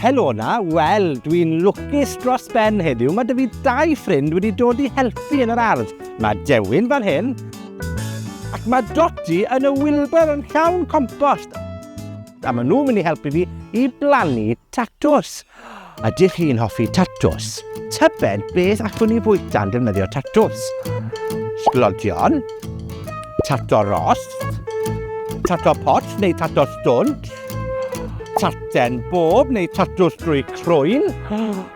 Helo na, wel, dwi'n lwcus dros ben heddiw. Mae dy fi dau ffrind wedi dod i helpu yn yr ardd. Mae Dewin fan hyn, ac mae Dodi yn y wilber yn llawn compost. A maen nhw'n mynd i helpu fi i blannu tatws. Ydych chi'n hoffi tatws? Tybed beth allwn ni fwyta'n defnyddio tatws? Sglodion, tato ros, tato pot neu tato stwnt, taten bob neu tatws drwy crwyn.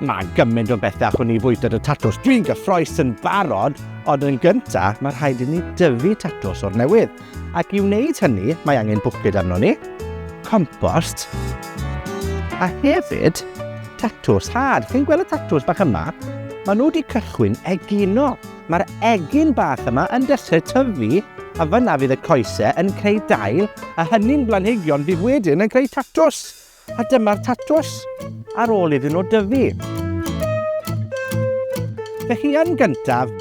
Mae gymaint o bethau allwn ni fwyta dy tatws. Dwi'n gyffroes yn barod, ond yn gyntaf, mae rhaid i ni dyfu tatws o'r newydd. Ac i wneud hynny, mae angen bwced arnon ni, compost, a hefyd tatws had. Chi'n gweld y tatws bach yma? Mae nhw wedi cychwyn egino. Mae'r egin bach yma yn dechrau tyfu a fyna fydd y coesau yn creu dail a hynny'n blanhigion fydd wedyn yn creu tatws. A dyma'r tatws ar ôl iddyn nhw dyfu. Felly yn gyntaf,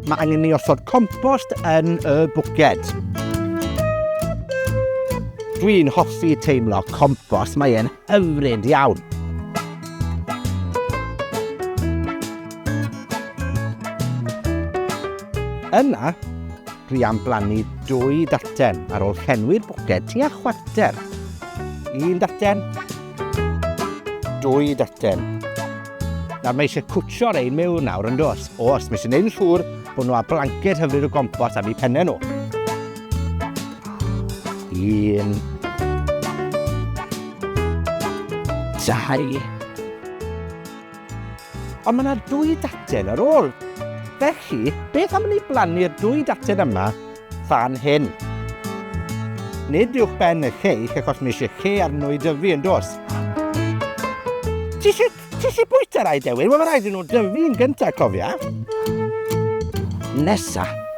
mae angen ni osod compost yn y bwced. Dwi'n hoffi teimlo compost, mae e'n hyfryd iawn. Yna, Dwi am blannu dwy daten ar ôl llenwi'r bwced tua chwarter. Un daten. Dwy daten. Nawr mae eisiau cwtsio'r ein mewn nawr yn dos. O, os mae eisiau gwneud yn siŵr bod nhw a blanced hyfryd o gompos am eu pennau nhw. Un. Dau. Ond mae 'na dwy daten ar ôl. Felly, beth am i ni blannu'r dwy daten yma fan hyn? Nid uwch ben y lleill, achos mae eisiau lle arno i dyfu, yn does? Ti eisiau Ti eisiau bwyta rai, Dewi? Wel, mae rhaid i nhw dyfu'n gyntaf, cofia. Nesa,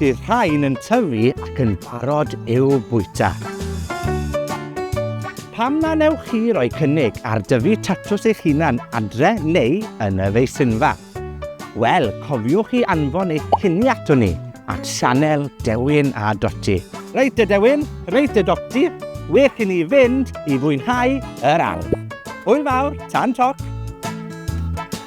Bydd rhain yn tyfu ac yn barod i'w bwyta. Pam na newch chi roi cynnig ar dyfu tatws eich hunan adre neu yn y feisinfa? Wel, cofiwch i anfon eich cynni ato ni at sianel Dewin a Doti. Reit y Dewin, reit y Doti, wech i ni fynd i fwynhau yr ardd. Hwyl fawr, tan toc!